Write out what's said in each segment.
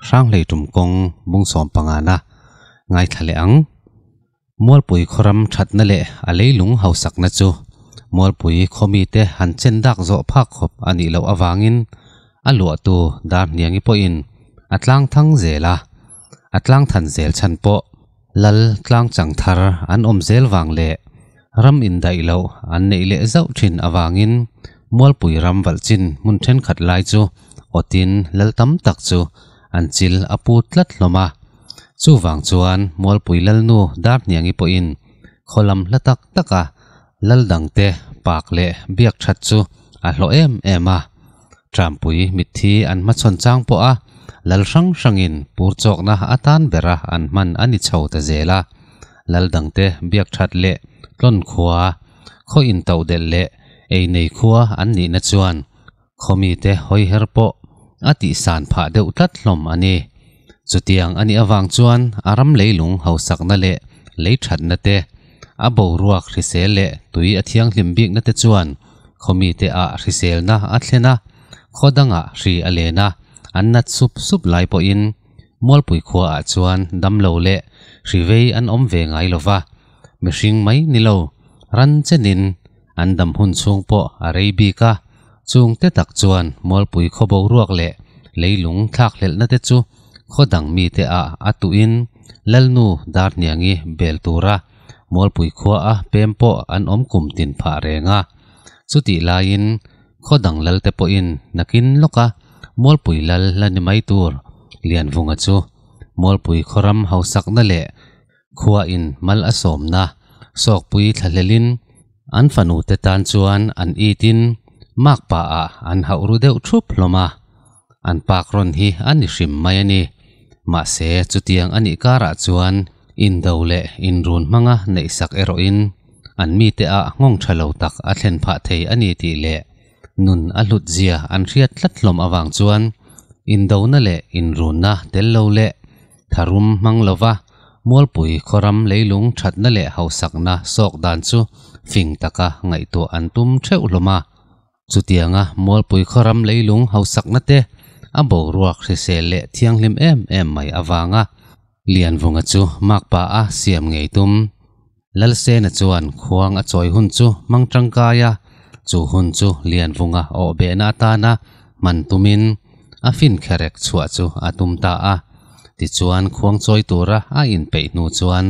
Hranglei tum kawng bungsawm pangana ngaithla leh ang. Mualpui khawram thatna leh a leilung hausakna chu Mualpui khawmite han chen dak zawh phak khawp a nih loh avangin a luahtu Darhniangi pawhin a tlangthang zel a, a tlangthan zel chhan pawh. Lal tlangchang thar an awm zel vang leh ram indaih loh an neih leh zauh thin avangin Mualpui ram valhchin hmun thenkhat lai chu awtin lal tam tak chu an chil a pu tlat hlawm a. Chuvang chuan Mualpui lalnu Darhniangi pawhin khaw lam hla tak taka lal dangte pak leh biak that chu a hlawh em em a. Ṭanpui mitthi an hmachhawn chang pawh a, lal hrang hrangin pur chawkna atan bera an hman a ni chho ta zel a, lal dangte biak ṭhat leh tlawn khua, khaw intoh delh leh ei nei khua an nihna chuan khaw mite hawi her pawh a tihsan phah deuh tlat hlawm a ni. Chutiang a nih avang chuan a ram leilung hausakna leh lei ṭhatna te, a boruak hrisel leh tui a thianghlim bikna te chuan Khawmite ah hriselna a thlen a, khawdang ah hri a len a, an nat sup sup lai pawhin Mualpui khua ah chuan damlo leh hri vei an awm ve ngai lova, mihring mai nilo ran chen in an dam hun chhung pawh a rei bik a, chung te tak chuan Mualpui khaw boruak leh leilung thlak hlelhna te chu khawdang mite ah a tuh in Lalnu Darniangi bel tur a Mualpui khua a pem pawh an awm kum tin phah reng a. Chutih laiin khaw dang lalte pawhin nakin lawk a Mualpui lal la ni mai tur Lianvunga chu Mualpui khawram hausakna leh khua in mal a sawmna sawkpui thlahlelin An fanute tan chuan an itin Mark pa ah an hauh ru deuh thup hlawm a, an pâk rawn hi a ni hrim mai a ni. Mahse, chutiang a nih kârah chuan indo leh inrun hmanga neihsak erawhin an mite ah nghawng ṭha lo tak a thlen phah thei a ni tih leh nun a hlut zia an hriat tlat hlawm avang chuan indona leh inrunna tel lo leh tharum hmang lova mualpui khawram leilung thatna leh hausakna sawk dan chu fing taka ngaihtuah an tum theuh hlawm a. Chutianga mualpui khawram leilung hausakna te a boruak hrisel leh thianghlim em em mai avanga Lianvunga chu Makpa a siam ngei tum Lalsena chuan khuang a chawi hun chu hmang tangkai a, chu hun chu lianvunga awhbehna atana hman tumin a fin kherek chhuah chu a tum ta a. Tichuan khuang chawi tura a inpeih hnu chuan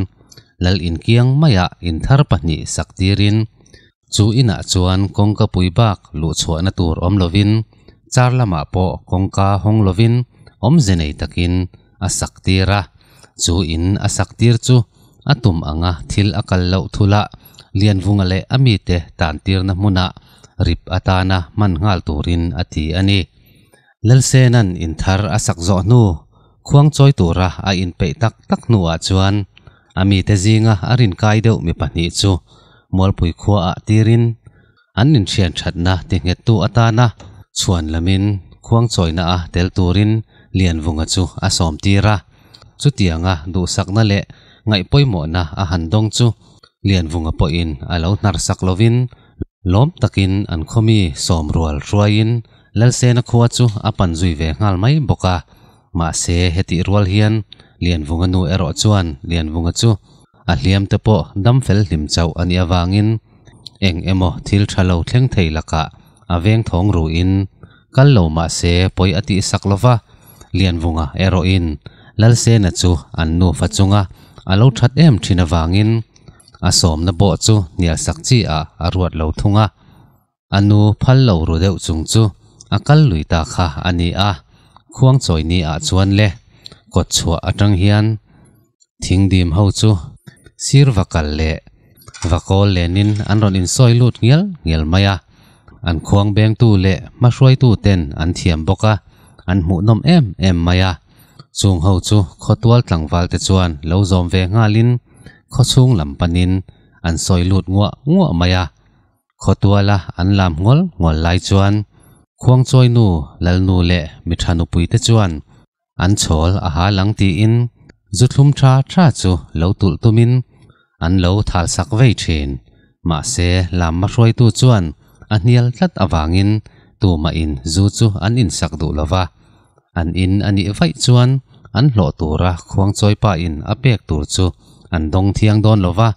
Lal in kiang maiah inthar pahnih sak tirin Chu inah chuan kawngka pui bak luh chhuahna tur awm lovin char lamah pawh kawngka hawng lovin awmze nei takin a sak tir a. Chu in a sak tir chu a tum anga thil a kal loh thula Lianvunga leh a mite tantirna hmuna rip atana hman nghal turin a ti a ni. Lalsena'n inthar a sak zawh hnu, khuang chawi tura a inpeih tak tak hnuah chuan a mite zinga a rin kai deuh mi pahnih chu Mualpui khuaah tirin an inthian thatna tighngettu atana chhuan lamin khuang chawina a tel turin Lianvunga chu a sawm tir a. Chutianga duhsakna leh ngaihpawimawhna a han dawng chu Lianvunga pawhin a lo hnarsak lovin Lawm takin an khawmi sawm rual hruaiin Lalsena khua chu a pan zui ve nghal mai bawk a. Mahse hetih rual hian Lianvunga nu erawh chuan Lianvunga chu a hliam te pawh dam fel hlim chauh a nih avangin eng emaw thil tha lo thleng thei lakah a veng thawng ruin, Kal lo mahse pawi a tih sak lova, Lianvunga erawhin Lalsena chu an nufa chunga a lo that em thin avangin a sawmna bawh chu hnialsak chiah a a ruat lo thung a. A nu phal lo ru deuh chung chu a kal lui ta kha a ni a, Khuangchawini ah chuan le kawtchhuah atang hian thing dim ho chu sir va kal leh va kawl lenin an rawn insawi lut ngial ngial mai a, an khuang bengtu leh hmahruaitu ten an thiam bawk a, an hmuhnawm em em mai a, chung ho chu khawtual tlangval te chuan lo zawm ve nghalin khawchhung lam panin an sawi lut nguah nguah mai a, khawtuala an lam ngawlh ngawlh lai chuan khuangchawinu, lalnu leh miṭha nupui te chuan an chhawl a halang tiin zu thlum tha tha chu lo tulh tumin an lo thalsak vei thin. Mahse, lam ma hruaitu chuan a hnial tlat avangin tumahin zu chu an insak duh lo va. An in a nih vaih chuan an hlawh tura Khuangchawipain a pek tur chu an dawng thiang dawn lo va.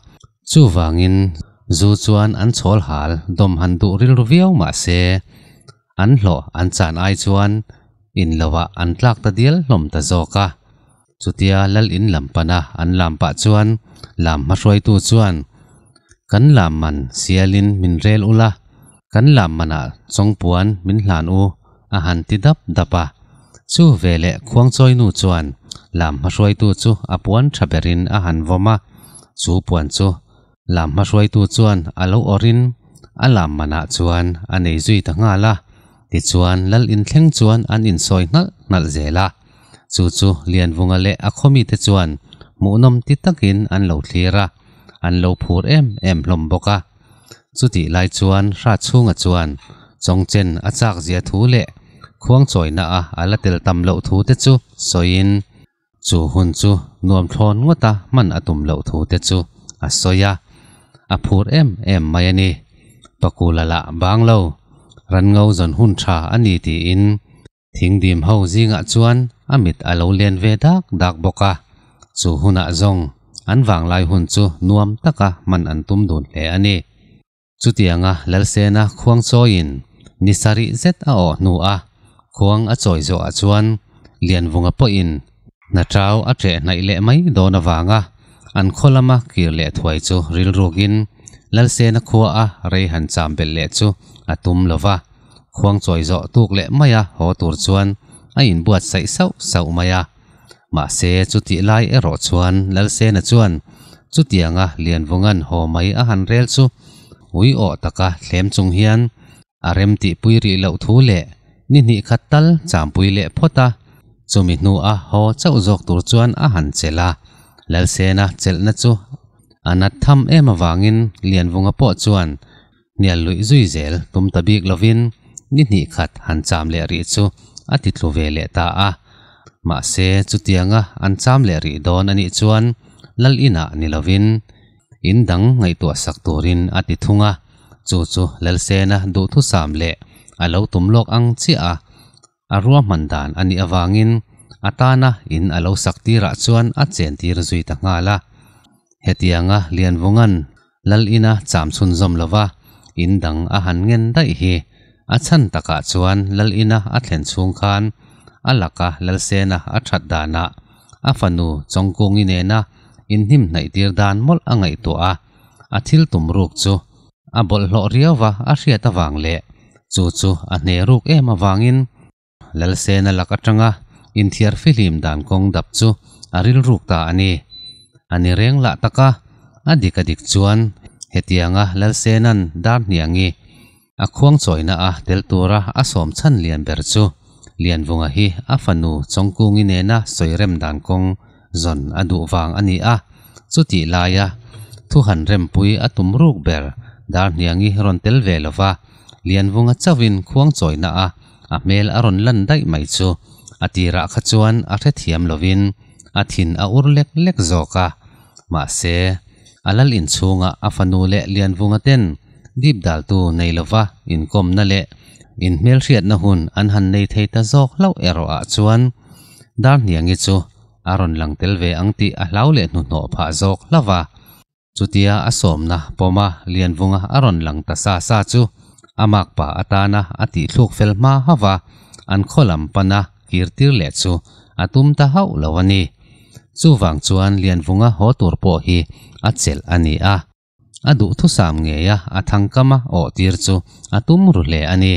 Chuvangin zu chuan an chhawl hal dawm han duh rilru viau mahse, an hlawh an chan ai chuan in lovah an tlak ta dial hlawm ta zawk a. Chutia Lal in lam pana an lam pah chuan lam hmahruaitu chuan, Kan lam man sialin min rel ula, kan lam manah chawngpuan min hlan u, a han ti dap dap a. Chu veleh Khuangchawinu chuan lam hmahruaitu chu a puan tha berin a han vawm a, chu puan chu Lam hmahruaitu chuan a lo awrhin a lam manah chuan a nei zui ta nghal a, tichuan lal in thleng chuan an insawi hngalh hngalh zel a. Chu chu Lianvunga leh a khawmite chuan hmuhnawm ti takin an lo thlir a, an lo phur em em hlawm bawk a. Chutih lai chuan Hratchhunga chuan Chawngchen a chakzia thu leh khuangchawina a a la tel tam loh thu te chu sawiin Chu hun chu nuamthlawn ngawt a hman a tum loh thu te chu a sawi a, a phur em em mai a ni. Pakula lah bang lo, Rango zawn hun tha a ni tiin thing dim ho zingah chuan a mit a lo len ve dak dak bawk a. Chu hunah zawng an vanglai hun chu nuam taka hman an tum dun hle a ni. Chutianga Lalsena khuang chawiin ni sa rih zet a awh hnu a, khuang a chawi zawhah chuan Lianvunga pawhin hna tau a ṭeh hnaih leh mai dawn avanga an khaw lama kir leh thuai chu rilrukin Lalsena khua a rei han cham belh leh chu a tum lo va, khuang chawi zawh tuk leh maia haw tur chuan a inbuat saih sauh sauh mai a. Mahse, chutih lai erawh chuan Lalsena chuan chutianga Lianvunga'n haw mai a han rel chu ui awh taka thlem chung hian a remtih pui rih loh thu leh ni hnih khat tal champui leh phawt a, chumi hnua haw chauh zawk tur chuan a han chelh a. Lalsena chelhna chu a nat tham em avangin Lianvunga pawh chuan hnial luih zui zel tum ta bik lovin ni hnih khat han cham leh rih chu a ti tlu ve leh ta a. Mahse chutianga an cham leh rih dawn anih chuan Lal inah ni lovin in dang ngaihtuah sak turin a ti thung a, chu chu Lalsena duhthusam leh a lo tum lawk ang chiah a. a ruahman dan a nih avangin a tana in a lo sak tirah chuan a chen tir zui ta nghal a. Hetianga Lianvunga'n Lal ina cham chhunzawm lova in dang a han ngen daih hi a chhan takah chuan Lal ina a thlen chhung khan a laka Lalsena a that danah a fanu Chawngkungi nena inhnim hnaih tir dan mawlh a ngaihtuah a, a thil tum ruk chu. a bawlh hlawh riau va, a hriat avang leh chu chu a hne ruk em avangin Lalsena lak atanga inthiar fihlim dan kawng dap chu a rilruk ta a ni. A ni reng lah tak a, a dik a dik chuan hetianga Lalsena'n darhniang i a khuang chawina a tel tura a sawm chhan lian ber chu Lianvunga hi a fanu Chawngkungi nena sawi rem dan kawng zawn a duh vang a ni a, chutih laia thu han rempui a tum ruk ber, Darhniangi rawn tel ve lova, lianvunga chauhin khuang chawina a a hmel a rawn lan daih mai chu a tirah kha chuan a hrethiam lovin a thin a ur lek lek zawk a, mahse, a lal inchhunga a fanu leh lianvunga ten dip daltu nei lova inkawmna leh inhmelhriatna hun an han nei thei ta zawk hlauh erawh ah chuan, Darniangi chu a rawn lang tel ve ang tih a hlau leh hnuhnawh phah zawk hlauh a, chutia a sawmna pawma lianvunga a rawn lang ta sa sa chu a makpa atana a tihthluk fel hma hauh a, an khawlam pana kirtir leh chu a tum ta hauh lo a ni. Chuvang chuan lianvunga haw tur pawh hi a chelh a ni a. a duhthusam ngei a, a thangkam a awh tir chu a tum ru hle a ni.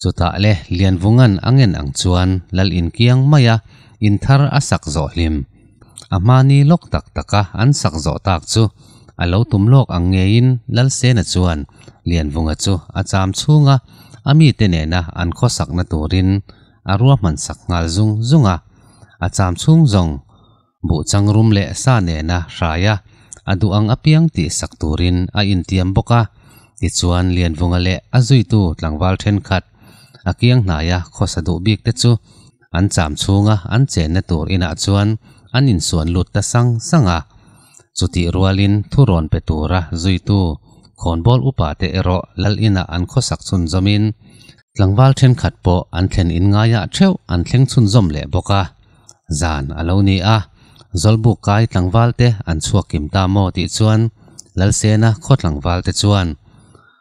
Chutah le Lianvunga'n a ngen ang chuan lal inkiang mai a, inthar a sak zawh hlim. A hmani lawk tak taka an sak zawh tak chu a lo tum lawk ang ngeiin Lalsena chuan Lianvunga chu a cham chhunga a mite nena an khawsakna turin a ruahman sak nghal zung zung a, a cham chhung zawng buh changrum leh sa nena hraia a duh ang apiang tih sak turin a intiam bawk a. Tichuan, Lianvunga leh a zuitu tlangval thenkhat a kiang hnaia khawsa duh bik te chu an cham chhunga an chenna tur inah chuan an insuan lut ta sang sang a. Chutih rualin thu rawn pe tura zuitu khawnbawl upa te erawh Lal inah an khawsak chhunzawmin tlangval thenkhat pawh an thlen in ngaia theuh an thleng chhunzawm leh bawk a. zan a lo ni a, Zawlbuk kai tlangval te an chhuak kim ta maw tih chuan Lalsena khaw tlangval te chuan,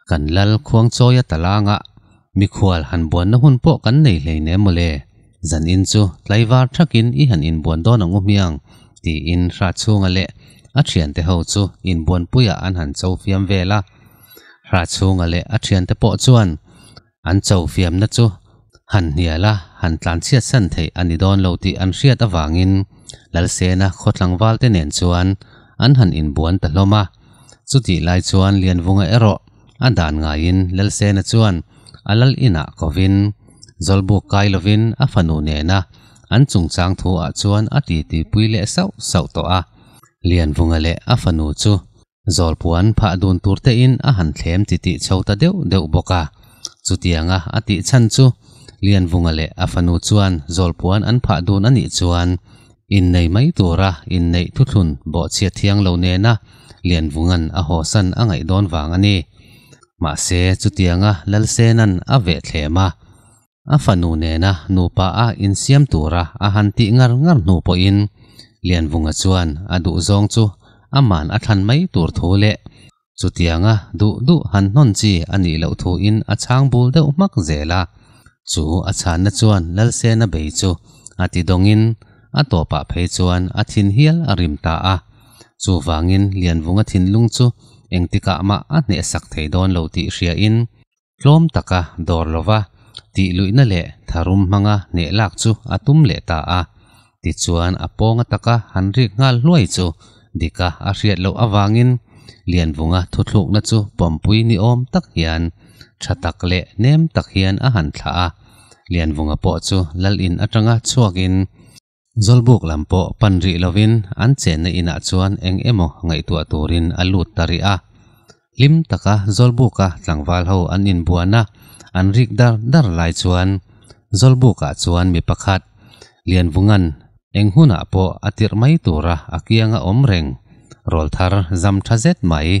Kan Lal khuang chawi a talangah mikhual han buanna hun pawh kan nei hlei nem maw le, zan in chu tlaivar thakin i han inbuan dawn ang u hmiang tiin Hrathchunga leh a thiante ho chu inbuanpuiah an han chofiam vel a, Hrathchunga leh a thiante pawh chuan an chofiamna chu han hnial a, han tlanchhiatsan theih a ni dawn lo tih an hriat avangin Lalsena khaw tlangvalte nen chuan an han inbuan ta hlawm a. Chutih lai chuan Lianvunga erawh a dan ngaiin Lalsena chuan a lal inah kovin zawlbuk kai lovin a fanu nena an chungchang thu ah chuan a titipui leh sauh sauh tawh a. Lianvunga leh a fanu chu Zawlpuan phah dun tur te in a han thlem chi tih chho ta deuh deuh bawk a. Chutiang a, a tih chhan chu Lianvunga leh a fanu chuan Zawlpuan an phah dun a nih chuan innei mai tura inneih thuthlun bawhchhiat thiang lo nena Lianvunga'n a hawsan a ngaih dawn vang a ni. Mahse, chutiang a Lalsena'n a veh thlem a. a fanu nena nupa a insiam tura a han tih ngar ngar hnu pawhin Lianvunga chuan a duh zawng chu a man a thlan mai tur thu leh chutianga duh duh han hnawn chi a nih loh thuin a chhang bul deuh hmak zel a. Chu a chhanna chuan Lalsena bei chu a ti dawngin a tawpah phei chuan a thin hial a rim ta a. Chuvangin Lianvunga thinlung chu engtikah mah a hnehsak thei dawn lo tih hriain Tlawm taka dawr lova tih luihna leh tharum hmanga hneh lak chu a tum leh ta a, tichuan a pawnga taka han rik nghal hluai chu dika a hriat loh avangin Lianvunga thuthlukna chu pawmpui ni awm tak hian tha tak leh nem tak hian a han thlah a, Lianvunga pawh chu Lal in atanga chhuakin Zawlbuk lam pawh pan rih lovin an chenna inah chuan eng emaw ngaihtuah turin a lut ta rih a. Hlim taka Zawlbuka tlangval ho an inbuan a, an rik dar dar lai chuan Zawlbukah chuan mi pakhat, Lianvunga'n eng hunah pawh a tirh mai tura a kianga awm reng, rawl thar zam tha zet mai.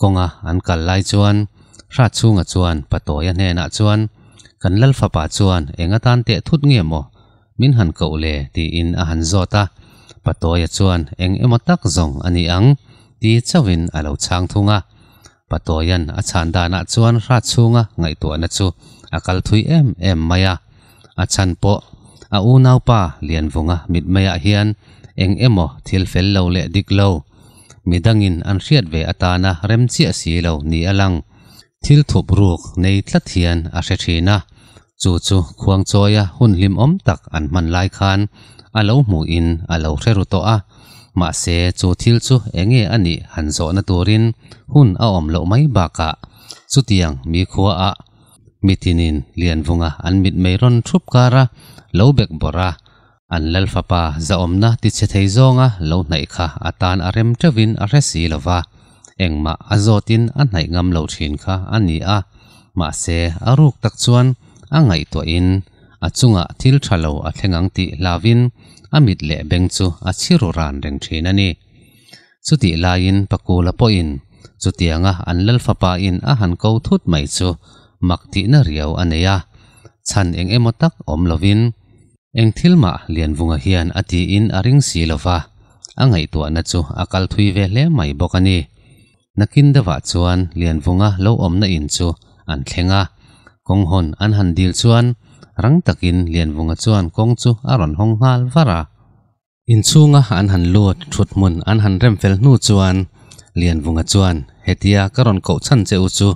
kawnga an kal lai chuan hrat chhunga chuan pa Tawia hnenah chuan, Kan lal fapa chuan eng atan teh thut nge maw? Min han koh le tiin a han zawt a, pa Tawia chuan eng emaw tak zawng a ni ang ti chauhin a lo chhang thung a. Pa Tawian a chhan danah chuan hrat chhunga ngaihtuahna chu a kal thui em em mai a. A chhan pawh a unaupa Lianvunga mitmeiah hian eng emaw thil fel lo leh dik lo, mi dangin an hriat ve atana rem chiah si lo ni a lang. Thil thup ruk nei tlat hian a hre thin a, chu chu Khuangchawia hun hlimawm tak an hman lai khan a lo hmuhin a lo hre ru tawh a, mahse chu thil chu eng nge a nih han zawhna turin hun a awm loh mai bakah chutiang mi khuaah mitin in lian vunga an mit mai rawn thup kar a, lo bek bawrh a, an lal fapa zahawmna tichhe thei zawnga lo hnaih kha a tan a rem teuh in a hre si lo va, engmah a zawt in a hnaih ngam lo thin kha a ni a, mahse a ruk tak chuan a ngaihtuah in a chungah thil tha lo a thleng ang tih hlau in a mit leh beng chu a chhiru ran reng thin a ni. Chutih laiin pa Kula pawhin chutianga an lalfapain a han ko thut mai chu mak tihna riau a nei a, chhan eng emaw tak awm lovin eng thil mah lianvunga hian a tiin a ring si lova a ngaihtuahna chu a kal thui ve hle mai bawk a ni. Nakin deuhah chuan lianvunga lo awmna in chu an thleng a, kawng hawn an han dil chuan rang takin lianvunga chuan kawng chu a rawn hawng nghal var a. Inchhunga an han luat thut hmun an han rem fel hnu chuan Lianvunga chuan, Hetia ka rawn koh chhan che u chu,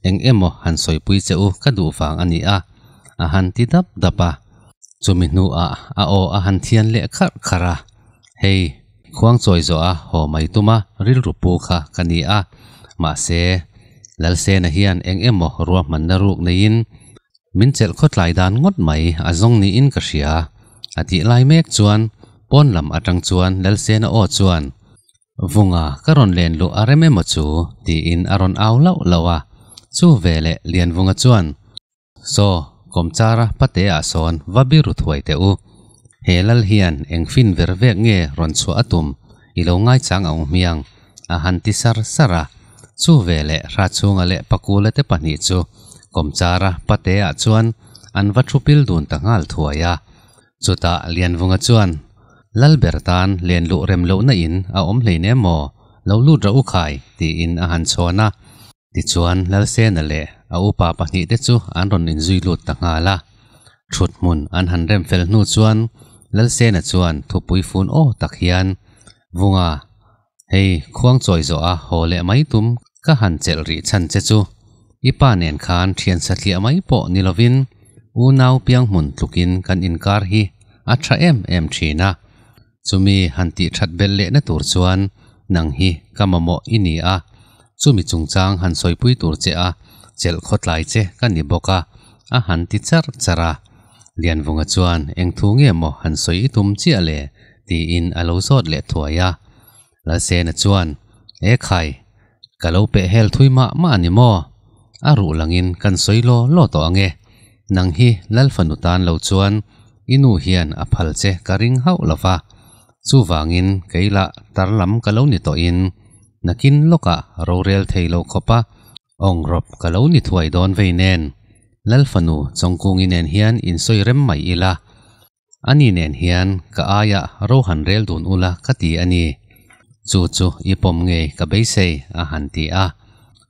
eng emaw han sawipui che u ka duh vang a ni a, a han ti dap dap a. Chumi hnuah a aw a han thian leh kharh kharh a. Hei, khuang chawi zawh a haw mai tuma rilru pu kha ka ni a, mahse, Lalsena hian eng emaw ruahmanna ruk neiin min chelh khawtlai dan ngawt mai a zawng niin ka hria a tih lai mek chuan pawn lam atang chuan Lalsena aw chuan Vunga ka rawn len luh a rem emaw chu tiin a rawn au lauh lauh a, chu ve leh Lianvunga chuan Saw kawmchara pate ah sawn va biru thuai teh u, he Lal hian eng fin ver vek nge rawn chhuah a tum? i lo ngaichang ang hmiang a han ti sar sar a, chu ve leh hra chhunga leh pakula te pahnih chu Kawmchara pate ah chuan an va thu pil dun ta nghal thuai a, chutah Lianvunga chuan, Lal ber tan len luh rem lohna in a awm hleinem maw, lo lut rah u khai, tiin a han chhawn a. Tichuan, Lalsena leh a upa pahnih te chu an rawn inzui lut ta nghal a. Thut hmun an han rem fel hnu chuan Lalsena chuan thupui fun aw tak hian, Vunga, hei khuang chawi zawh a haw leh mai tum ka han chelh rih chhan che chu. I pa nen khan thiansa tliah mai pawh ni lovin unau pianghmun tlukin kan inkar hi a tha em em thin a. Chumi han tih that bel leh na tur chuan nang hi ka mamawh i ni a, chumi chungchang han sawipui tur che a, chelh khawtlai che ka ni bawk a, a han ti char char a. Lianvunga chuan eng thu nge maw han sawi i tum chiah le? tiin a lo zawt leh thuai a. Lalsena chuan, E khai, ka lo peh hel thui mah mah a ni maw? A ruh langin kan sawi law law tawh ange. Nang hi Lal fanu tan lo chuan i nu hian a phal che ka ring hauh lo va. Chuvangin kei lah tar lam ka lo ni tawhin nakin lawkah rorel thei lo khawpa awng rawp ka lo ni thuai dawn vei nen. Lal fanu chawngkung i nen hian in sawi rem mai ila. Ani nen hian ka aia ro han rel dun ula ka ti a ni. Chu chu i pawm nge ka beisei? a han ti a.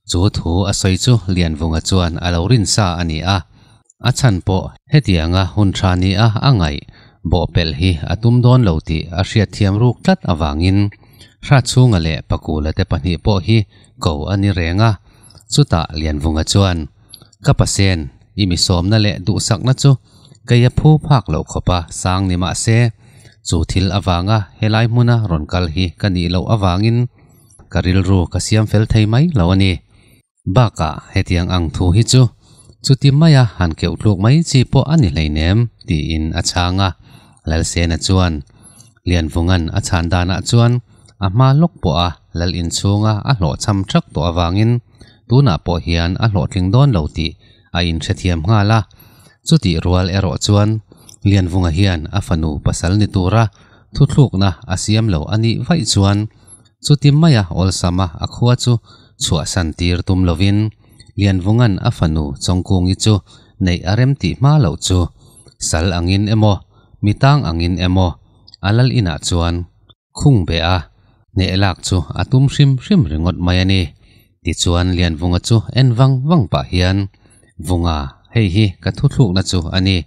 Chu thu a sawi chu Lianvunga chuan a lo rinsa a ni a. A chhan pawh hetianga hun thani a a ngaih bawhpelh hi a tum dawn lo tih a hriatthiam ruk tlat avangin hra chhunga leh pakula te pahnih pawh hi ko a ni reng a. Chutah Lianvunga chuan. Ka pasien, i misawmna leh duhsakna chu kei a phu phak loh khawp a, sang ni mah se, chu thil avanga helai hmuna rawn kal hi ka nih loh avangin ka rilru ka siam fel thei mai lo a ni. Bakah hetiang ang thu hi chu chuti maia han keuh tluk mai chi pawh a ni hleinem, tiin a chhang a. Lalsena chuan, Lianvunga'n a chhan danah chuan a hma lawk pawha Lal in chhunga a hlawh cham ṭhak tawh avangin tunah pawh hian a hlawhtling dawn lo tih a inhrethiam nghal a. Chutih rual erawh chuan Lianvunga hian a fanu pasal ni tura thuthlukna a siam lo a nih vaih chuan Chuti maia awlsama a khua chu chhuahsan tir tum lovin Lianvunga'n a fanu Chawngkungi chu neih a rem tih hma loh chu sal angin emaw mi tang angin emaw a lal inah chuan khung beh a hneh lak chu a tum hrim hrim ringawt mai a ni. Tichuan Lianvunga chu en vang vang pah hian, Vunga, hei hi ka thuthlukna chu a ni.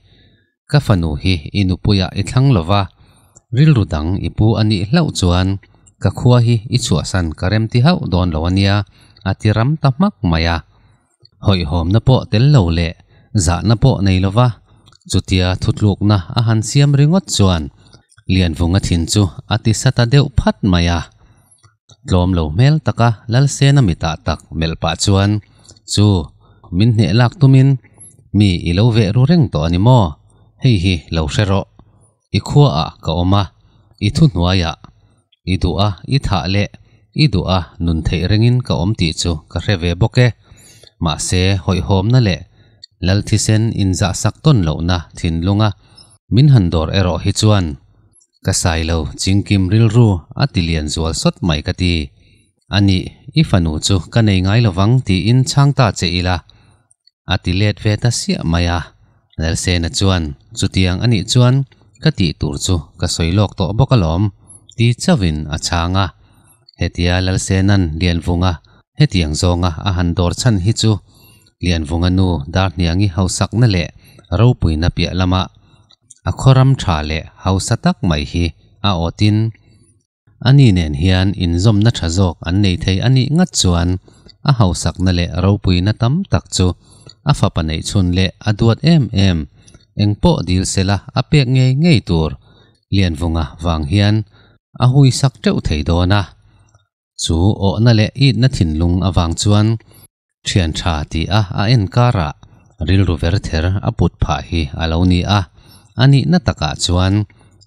ka fanu hi i nupuiah i thlang lo va, rilru dang i pu a nih hlauh chuan ka khua hi i chhuahsan ka remti hauh dawn lo a nia, a ti ram ta hmak mai a. Hawihhawmna pawh tel lo leh zahna pawh nei lo va, chutia thutlukna a han siam ringawt chuan Lianvunga thin chu a ti sa ta deuh phat mai a. tlawm lo hmel taka Lalsena mi tah tak melh pah chuan chu min hneh lak tumin mi i lo veh ru reng tawh a ni maw? Hei hi lo hre rawh, i khuaah ka awm a, i thuhnuaiah i duh a, i thah leh i duh a nun theih rengin ka awm tih chu ka hre ve bawk e. Mahse, hawihhawmna leh Lalthisen inzahsak tawn lohna thinlunga min han dawr erawh hi chuan Ka sailo chingkim rilru a tilian zual sawt mai ka ti. A ni, i fanu chu ka nei ngai lovang tiin chhang ta che ila a ti let ve ta siah mai a. Lalsena chuan chutiang a nih chuan ka tih tur chu ka sawi lawk tawh bawk alawm ti chauhin a chhang a. Hetia Lalsena'n Lianvunga hetiang zawnga a han dawr chhan hi chu Lianvunga nu Darhniangi hausakna leh ropuina piah lama a khawram tha leh hausa tak mai hi a awtin ani nen hian inzawmna tha zawk an nei thei a nih ngat chuan a hausakna leh ropuina tam tak chu a fapa neih chhun leh a duat em em engpawh dilsela a pek ngei ngei tur Lianvunga vang hian a hui sak teuh thei dawn a, chu awhna leh itna thinlung avang chuan thian tha tia a en karah rilru ver ther a put phah hi a lo ni a, a nihna takah chuan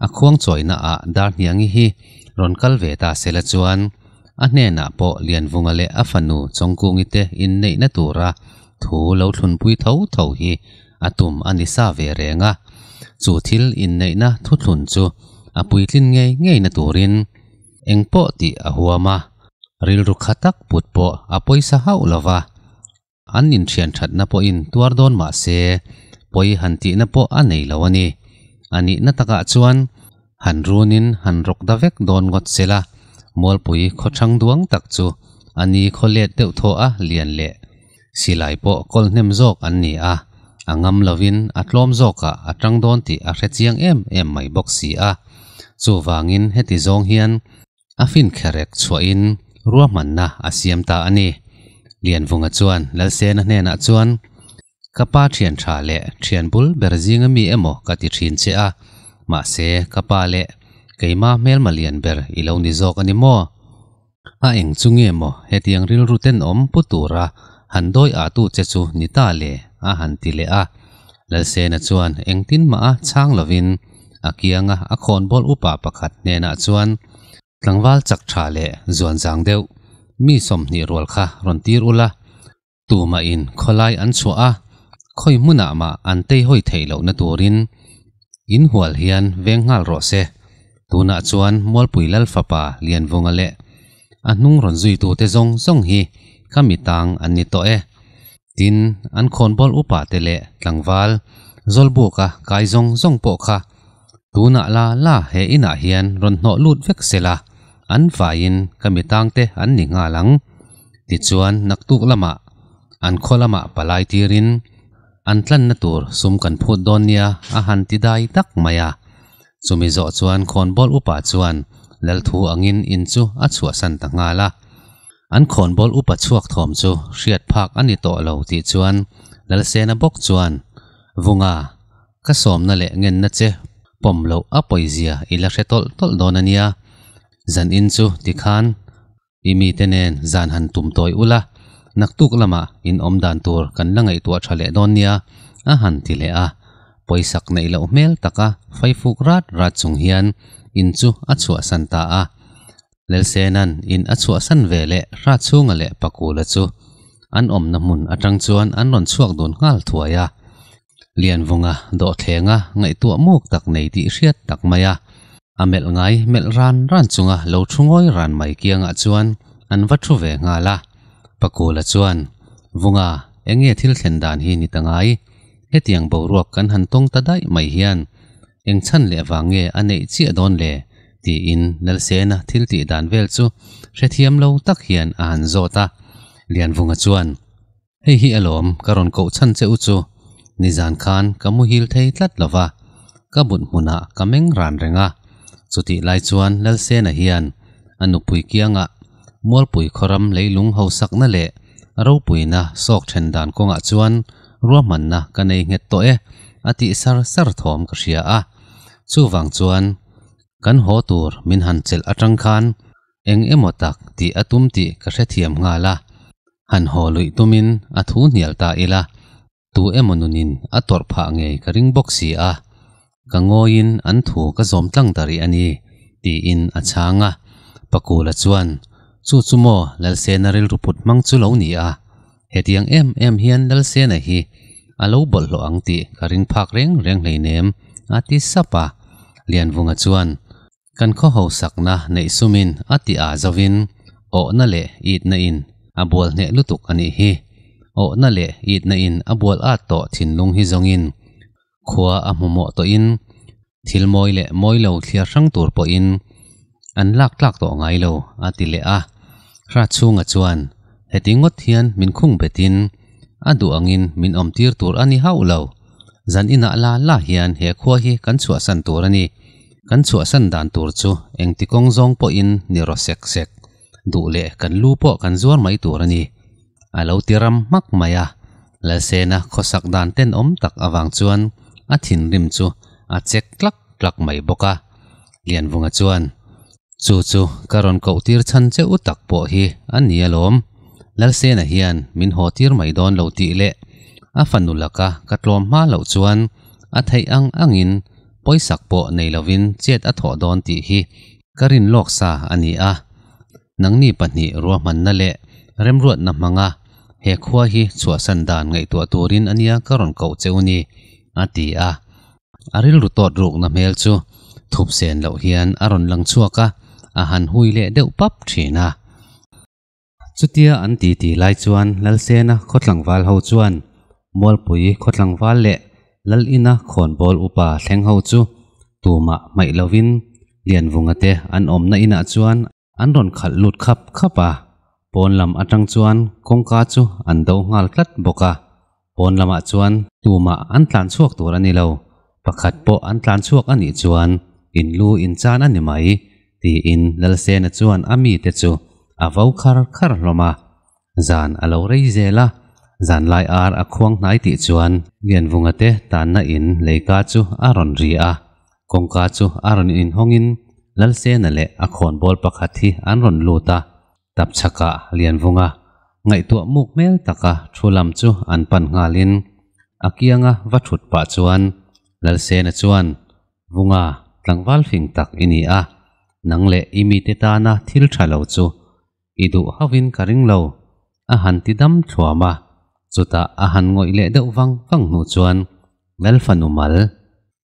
a khuang chawina ah Darhniangi hi rawn kal ve ta sela chuan a hnenah pawh Lianvunga leh a fanu Chawngkungi te inneihna tura thu lo thlunpui tho tho hi a tum a ni sa ve reng a. Chu thil inneihna thuthlun chu a puitlin ngei ngeina turin eng pawh tih a huam a, rilru kha tak put pawh a pawisa hauh lo va, an inthian thatna pawhin tuar dawn mah se pawi han tihna pawh a nei lo a ni. A nihna takah chuan han runin han rawk da vek dawn ngawt se la, Mualpui khaw chhang duang tak chu a ni khaw let deuh thawh a, lian leh silai pawh kawlhnem zawk an ni a, a ngam lovin a tlawm zawkah a chang dawn tih a hre chiang em em mai bawk si a, chuvangin heti zawng hian a finkherek chhuahin ruahmanna a siam ta a ni. Lianvunga chuan Lalsena hnenah chuan Ka pa thian tha leh thian bul ber zing ami emaw ka ti thin che a, mahse ka pa leh keima hmelma lian ber i lo ni zawk a ni maw? A eng chu nge maw hetiang rilru ten awm pu tura han dawi ah tu che chu ni ta le? a han ti leh a. Lalsena chuan engtin mah a chhang lovin a kianga a khawnbawl upa pakhat hnenah chuan, Tlangval chak tha leh zuan zang deuh mi sawmhnih rual kha rawn tir ula, Tumahin khawlai an chhuah a, khawi hmunah mah an tei hawi theih lohna turin inhual hian veng nghal rawh se. Tunah chuan Mualpui Lal fapa Lianvunga leh a hnung rawn zuitute zawng zawng hi kha mi tang an ni tawh e. Tin, an khawnbawl upa te leh tlangval zawlbuka kai zawng zawng pawh kha tunah la la he inah hian rawn hnawh lut vek sela. an faiin ka mi tangte an ni nghal ang. Tichuan, naktuk lamah an khaw lamah palai tirin an tlanna tur sum kan phut dawn nia a han ti dai tak mai a. Chumi zawh chuan khawnbawl upa chuan lal thu angin in chu a chhuahsan ta nghal a. An khawnbawl upa chhuak thawm chu hriat phak a ni tawh lo tih chuan Lalsena bawk chuan, Vunga, Ka sawmna leh ngenna che pawm loh a pawizia i la hre tawlh tawlh dawn a nia. Zan in chu ti khan i mite nen zan han tum tawi ula, naktuk lamah inawm dan tur kan la ngaihtuah tha leh dawn nia, a han ti leh a. Pawisak neih loh hmel taka faifuk rat rat chung hian in chu a chhuahsan ta a. Lelsenan in a chhuahsan ve leh hra chhunga leh pakula chu an awmna hmun atang chuan an rawn chhuak dun nghal thuai a. Lianvawnga dawhthleng a ngaihtuah muk tak nei tih hriat tak mai a, a melh ngai melh ran ran chunga lo thu ngawi ran mai kiangah chuan an va thu ve nghal a. Pakula chuan, Vunga, enge thil thlen dan hi ni ta ngai? Hetiang boruak kan han tawng ta daih mai hian eng chhan leh vang nge a neih chiah dawn le? tiin Nelsena thil tih dan vel chu hrethiam lo tak hian a han zawt a. Lianvunga chuan, Hei hi a lawm, ka rawn kohchhan che u chu. Nizan khan ka muhil thei tlat lo va, ka but hmunah ka meng ran reng a. Chutih lai chuan Lalsena hian a nupui kiangah Mualpui khawram leilung hausakna leh ropuina sawk then dan kawngah chuan ruahmanna ka nei nghet tawh e a tih sar sar thawm ka hria a. Chuvang chuan kan haw tur min han chelh atang khan eng emaw tak tih a tum tih ka hrethiam nghal a, han haw luih tumin a thu hnial ta ila, tu emaw nunin a tawrh phah ngei ka ring bawk si a, ka ngawiin an thu ka zawm tlang ta rih a ni, tiin a chhang a. Pa Kula chuan, Chu chu maw Lalsena rilru put hmang chu lo ni a, hetiang em em hian Lalsena hi a lo bawlh hlawh ang tih ka ring phak reng reng hleinem a ti sap a. Lianvunga chuan, Kan khawhosakna neih sumin a ti ah zovin awhna leh itna in a bual hneh lutuk a nih hi. Awhna leh itna in a bual at tawh thinlung hi zawngin khua a hmuhmawh tawhin thil mawi leh mawi lo thliar hrang tur pawhin an lak tlak tawh ngai lo a ti leh a. Hratchhunga chuan heti ngawt hian min khung betin a duh angin min awmtir tur a ni hauh lo. Zan inah la la hian he khua hi kan chhuahsan tur a ni. Kan chhuahsan dan tur chu engti kawng zawng pawhin ni rawh sek sek, duh leh kan lu pawh kan zuar mai tur a ni. A lo ti ram hmak mai a, Lalsena khawsak dan ten awm tak avang chuan a thinrim chu a chek tlak tlak mai bawk a. Lianvunga chuan, Chu chu ka rawn koh tir chhan che u tak pawh hi a ni alawm, Lalsena hian min haw tir mai dawn lo tih leh a fa nulaka ka tlawm hma loh chuan a theih ang angin pawisak pawh nei lovin chet a thawh dawn tih hi ka rin lawk sa a ni a, nangni pahnih ruahmanna leh remruatna hmanga he khua hi chhuahsan dan ngaihtuah turin ania ka rawn koh che u ni, a ti a. A rilru tawt rukna hmel chu thupsen loh hian a rawn lang chhuak a, a han hui leh deuh pap thin a. Chutia an tih tih lai chuan Lalsena khawtlangval ho chuan Mualpui khawtlangval leh Lalina khawnbawl upa thleng ho chu tumah hmaih lovin Lianvunga te an awmna inah chuan an rawn khalh lut khap khap a. Pawnlam atang chuan kawngka chu an do nghal tlat bawk a, pawn lamah chuan tumah an tlan chhuak tur a ni lo, pakhat pawh an tlan chhuak a nih chuan in lu in chan a ni mai, tiin Lalsena chuan a mite chu a vo khar khar hlawm a, zan a lo rei zel a, zanlai ar a khuang hnai tih chuan Lianvunga te tanna in leika chu a rawn ri a, kawngka chu a rawn inhawngin Lalsena leh a khawnbawl pakhat hi an rawn lut a, Tapchhaka lianvunga ngaihtuah muk hmel taka thu lam chu an pan nghalin a kianga va thut pah chuan Lalsena chuan, Vunga, tlangval fing tak i ni a, nang leh i mite tana thil tha lo chu i duh hovin ka ring lo, a han ti dam thluam a, chutah a han ngawih leh deuh vang vang hnu chuan Melfanumal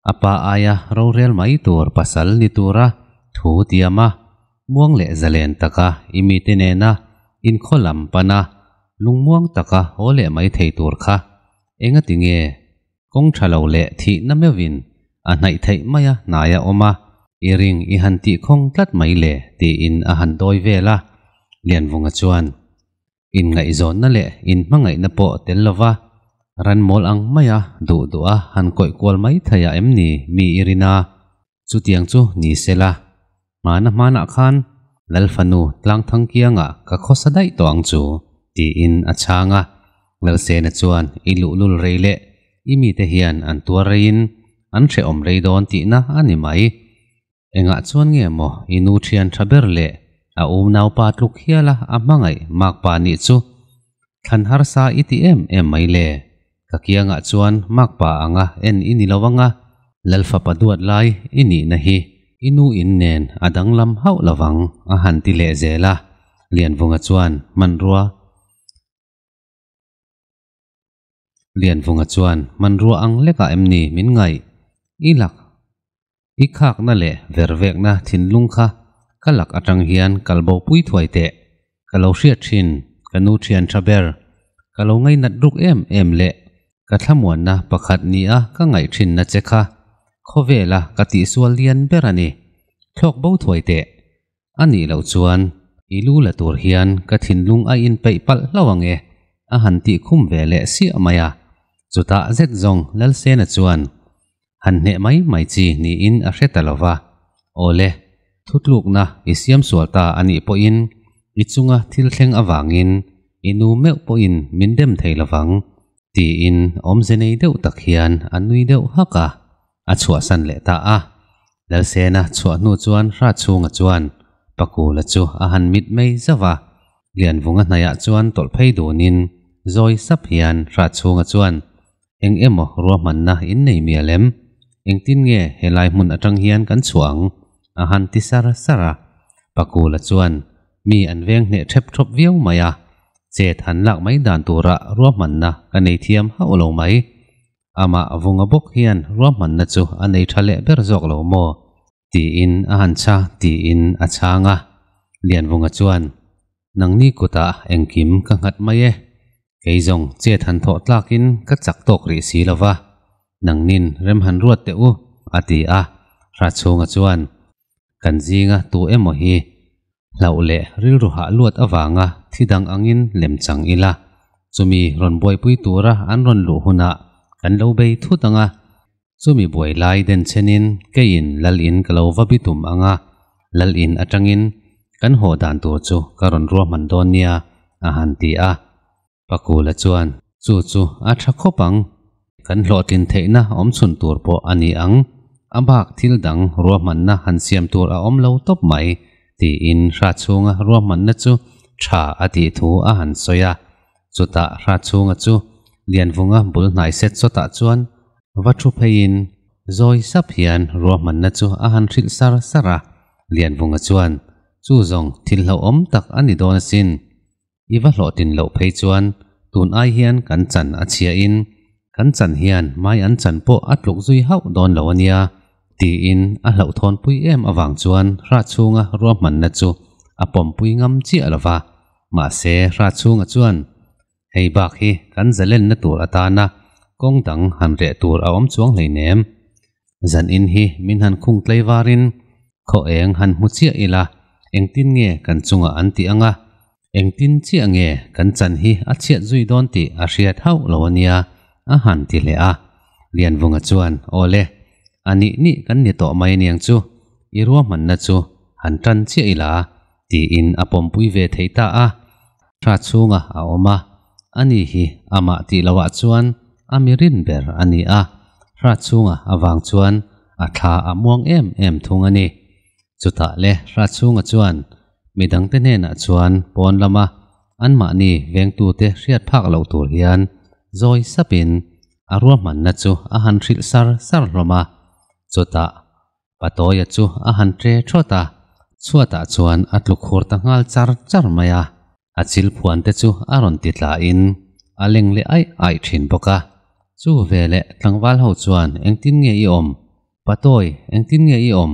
a pa aia rorel mai tur pasal ni tura thu tiam a, muang leh zalen taka i mite nena inkhaw lam pana lungmuang taka haw leh mai thei tur kha enga ti nge kawng tha lo leh thih na meuhin a hnaih theih mai a hnai a awm a, i ring i han tihkhawng tlat mai le tiin a han dawi vel a, Lianvunga chuan Inngaihzawnna leh inhmangaihna pawh tel lo va, ran mawl ang mai a, duh duh a han kawih kual mai thei a em ni? Mi i rin a, chutiang chu ni se la, hmana hmanah khan Lalfanu Tlangthang kiangah ka khawsa daih tawh ang chu, tiin a chhang a. Lalsena chuan i luhlul rei leh i mite hian an tuar reiin an hrehawm rei dawn tihna a ni mai. Engah chuan nge maw i nu thian tha ber leh a um naupa tluk hiala a hmangaih Makpa nih chu thlan harsa i ti em em mai le? Ka kiangah chuan Makpa anga en i ni lo ang a, Lalfa pa duat lai i nihna hi i nu in nen a danglam hauh lo vang a han ti leh zel a, Lianvunga chuan hmanrua. Lianvunga chuan, Hmanrua ang lekah em ni min ngaih? I lak i khakna leh ver vekna thinlung kha ka lak atang hian kal bo pui thuai teh. Ka lo hriat thin, ka nu thiantha ber, ka lo ngainat ruk em em leh ka thlamuanna pakhat nia ka ngaih thinna che kha khawvela ka tihsual lian ber a ni. Thlawk bo thuai teh. A nih loh chuan i lu la tur hian ka thinlung a in peih palh hlauh ang e, a han tih khum ve leh siah mai a. Chutah zet zawng Lalsena chuan, Han hneh mai mai chi niin a hre ta lo va. Awle, thutlukna i siam sual ta a nih pawhin i chunga thil thleng avangin i nu meuh pawhin min rem thei lo vang, tiin awmze nei deuh tak hian a nui deuh hak a. a chhuah san leh ta a. Lalsena chhuah hnu chuan hra chhunga chuan Pakula chu a han mit mai zauh a. Lianvunga hnaihah chuan tawlh phei dunin zawi sap hian hra chhunga chuan, Eng emaw ruahmanna in nei mi alem? Engtin nge he lai hmun atang hian kan chhuah ang? a han ti sar sar a. Pakula chuan mi an veng hneh thep thawp viau mai a, Chet han lak mai dan turah ruahmanna ka nei thiam hauh lo mai. amah a vunga bawk hian ruahmanna chu a nei tha leh ber zawk lo maw? tiin a han chha tiin a chhang a. Lianvunga chuan, Nangni kutah engkim ka nghat mai e, kei zawng chet han thawh tlakin ka chak tawk rih si lo va, nangnin rem han ruat teh u, a ti a. Hra chhunga chuan, Kan zinga tu emaw hi hlauh leh rilru hah luat avanga thi dang angin lem chang ila, chumi rawn buaipui tura an rawn luh hunah kan lo bei thut anga, chumi buai lai den chenin keiin Lal in ka lo va bi tum anga, Lal in atangin kan haw dan tur chu ka rawn ruahman dawn nia, a han ti a. Pakula chuan, Chu chu a tha khawp ang. Kan hlawhtlin theihna awmchhun tur pawh a ni ang. A bak thil dang ruahmanna han siam tur a awm lo tawp mai, tiin hra chhunga ruahmanna chu tha a tih thu a han sawi a. Chutah hra chhunga chu Lianvunga bul hnai set sawtah chuan va thu pheiin zawi sap hian ruahmanna chu a han hrilh sar sar a. Lianvunga chuan, Chu zawng thil hlauhawm tak a ni dawn asin. i va hlawh tin loh phei chuan tun ai hian kan chan a chhia in kan chan hian mai an chan pawh a tluk zui hauh dawn lo a nia tiin a hlauhthawn pui em avang chuan hra chhunga ruahmanna chu a pawmpui ngam chiah lo va. Mahse hra chhunga chuan hei bak hi kan zalenna tur atana kawng dang han reh tur a awm chuang hleinem. Zan in hi min han khung tlei varin khaw eng han hmu chiah ila, engtin nge kan chungah an tih anga, engtin chiah nge kan chan hi a chhiat zui dawn tih a hriat hauh lo a nia a han ti hle a. Lianvunga chuan, Awle, a nih nih kan ni tawh mai niang chu, i ruahmanna chu han tan chiah ila, tiin a pawmpui ve thei ta a. Hra chhunga a awm a, a ni hi amah tih lohah chuan a mirin ber a ni a, hra chhunga avang chuan a thla a muang em em thung a ni. Chutah le hra chhunga chuan midangte hnenah chuan pawn lama anmahni vengtute hriat phak loh tur hian zawi sapin a ruahmanna chu a han hrilh sar sar hlawm a. Chutah Pa Tawia chu a han ṭe ṭhawt a, chhuatah chuan a tlukhur ta nghal char char mai a, a chil phuan te chu a rawn ti tla in a leng leh aih aih ṭhin bawk a. Chu ve leh tlangval ho chuan engtin nge i awm? Pa Tawi, engtin nge i awm?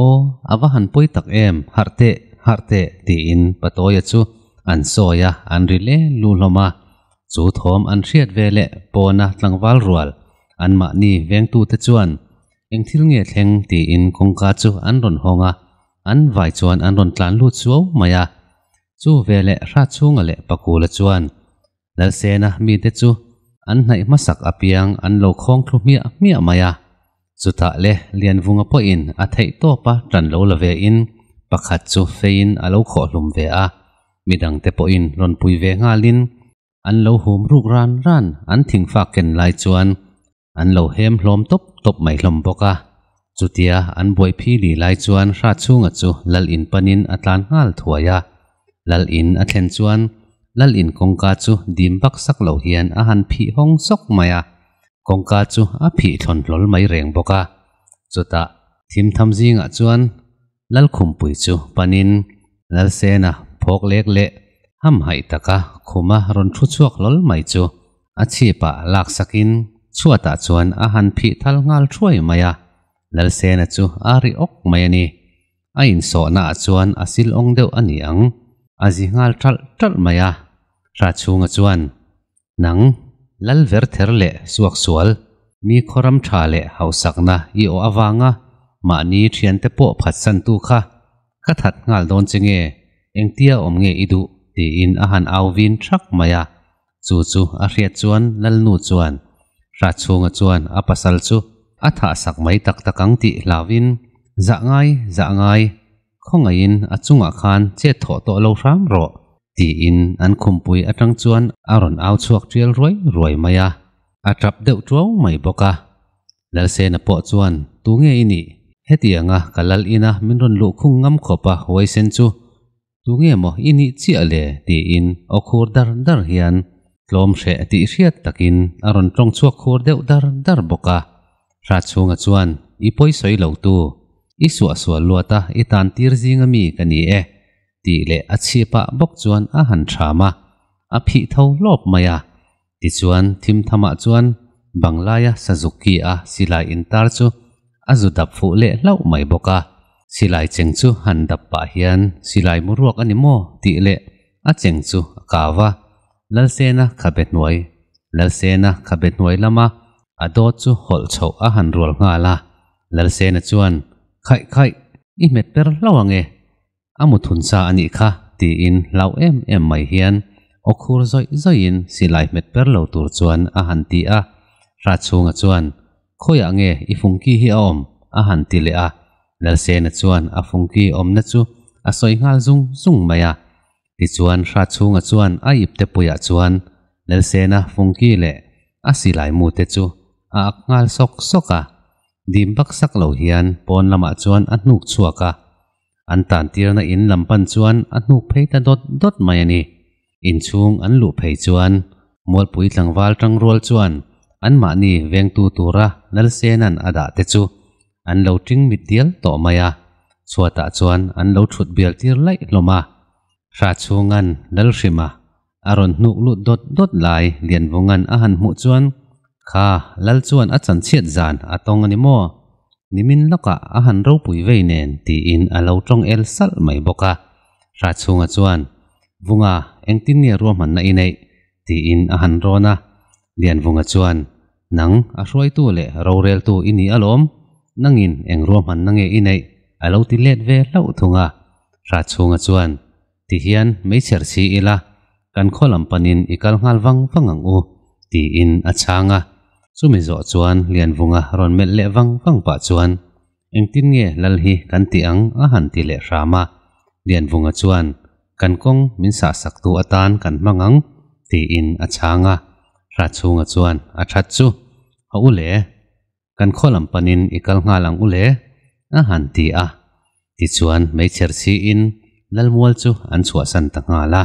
Aw, a va han pawi tak em, harh teh, harh teh, tiin Pa Tawia chu an sawi a, an ri le lu hlawm a. Chu thawm an hriat ve leh pawna tlangval rual anmahni vengtute chuan Eng thil nge thleng tiin kawngka chu an rawn hawng a, an vai chuan an rawn tlan lut suau mai a. Chu veleh hra chhunga leh pakula chuan Lalsena mite chu an hnaih hmasak apiang an lo khawng thlu hmiah hmiah mai a. Chutah le Lianvunga pawhin a theih tawp a tan lo la ve in pakhat chu feiin a lo khawhlum ve a. Midang te pawhin rawn pui ve ngalin an lo hum ruk ran ran an thing fak ken lai chuan an lo hêm hlâwm tawp tawp mai hlawm bawk a, chutia an buaiphi lih lai chuan hra chhûnga chu Lal in panin a tlân nghâl thuai a. Lal in a thlen chuan Lal in kawngka chu dîm baksak lo hian a han phih hawng sawk mai a, kawngka chu a phih thlawn hlawl mai rêng bawk a. Chutah thim tham zîngah chuan Lalkhumpui chu panin Lalsena phawk lek leh hamhaih taka khuma rawn thu chhuak lawlh mai chu a chhipah laksakin chhuatah chuan a han phih thal nghal thuai mai a. Lalsena chu a ri awk mai a ni. A insawhnaah chuan a silawng deuh a ni ang. A zi nghal ṭalh ṭalh mai a. Hra chhunga chuan Nang, lal ver ther leh suak sual, mi khawram tha leh hausakna i awh avanga mahni thiante pawh phatsantu kha ka that nghal dawn che nge, engtia awm nge i duh? tiin a han au vin thak mai a. Chu chu a hriat chuan Lalnu chuan hra chhunga chuan a pasal chu a thahsak mai tak tak ang tih hlavin, Zah ngai, zah ngai. Khawngaihin a chungah khan chet thawh tawh lo hram rawh, tiin an khumpui atang chuan a rawn au chhuak tial ruai ruai mai a, a tap deuh ṭo mai bawk a. Lalsena pawh chuan, Tu nge i nih? Hetianga ka lal ina min rawn luh khung ngam khawp a huaisen chu, tu nge maw i nih chiah le? tiin aw khur dar dar hian tlawm hreh tih hriat takin a rawn ṭawng chhuak khur deuh dar dar bawk a. Hra chhunga chuan, I pawi sawi lotu, i suah sual luat a, i tan tir zing a mi ka ni e, tih leh a chhip pah bawk chuan a han ṭham a, a phih tho lawp mai a. Tichuan, thim thamah chuan Banglaia Sazuki a silai intar chu a zu dap fuh leh hlauh mai bawk a. Silai cheng chu han dap pah hian, silai mu ruak a ni maw? tih leh a cheng chu a kau a. Lalsena khabe hnuai, Lalsena khabe hnuai lama a dawt chu hawlh chhoh a han rual nghal a, Lalsena chuan, Khaih khaih, i hmet ber hlo ange, a muthun sa a nih kha, tiin hlau em em mai hian aw khur zawih zawihin silai hmet ber lo tur chuan a han ti a, Hratchhunga chuan, Khawiah nge i fungki hi a awm? a han ti leh a, Lalsena chuan a fungki awmna chu a sawi nghal zung zung mai a, Tichuan hrat chhunga chuan a ip te puiah chuan Nelsena, Funky leh a silai mute chu a ak nghal sawk sawk a. Dim baksak lo hian pawn lamah chuan a hnuk chhuak a. An tantirna in lam pan chuan a hnuk phei ta dawt dawt mai a ni. Inchhung an luh phei chuan Mualpui tlangval tangrual chuan anmahni vengtu tura Nelsena'n a dah te chu an lo tling mit dial tawh mai a, chhuatah chuan an lo thut bial tir laih hlawm a. Hra chhunga'n Lalhrima a rawn hnuk lut dawt dawt lai Lianvunga'n a han hmuh chuan, Kha, Lal chuan a chan chhiat zan a tawng a ni maw? Nimin lawkah a han ropui vei nen tiin a lo tawng el salh mai bawk a. Hra chhunga chuan, Vunga, engtin nge ruahmanna i neih? tiin a han rawn a. Lianvunga chuan, Nang, a hruaitu leh roreltu i ni alawm, nangin eng ruahmanna nge i neih? a lo ti let ve hlauh thung a. Hratchhunga chuan, Ti hian meichher si ila, kan khaw lam panin i kal nghal vang vang ang u, tiin a chhang a. Chumi zawh chuan Lianvunga rawn melh leh vang vang pah chuan, Engtin nge Lal hi kan tih ang a han ti leh hram a, Lianvunga chuan, Kan kawng min sahsak tu atan kan hmang ang, tiin a chhang a. Hratchhunga chuan, A that chu, a u le, kan khawlam panin i kal nghal ang u le, a han ti a. Tichuan, meichher siin Lalmual chu an chhuahsan ta nghal a.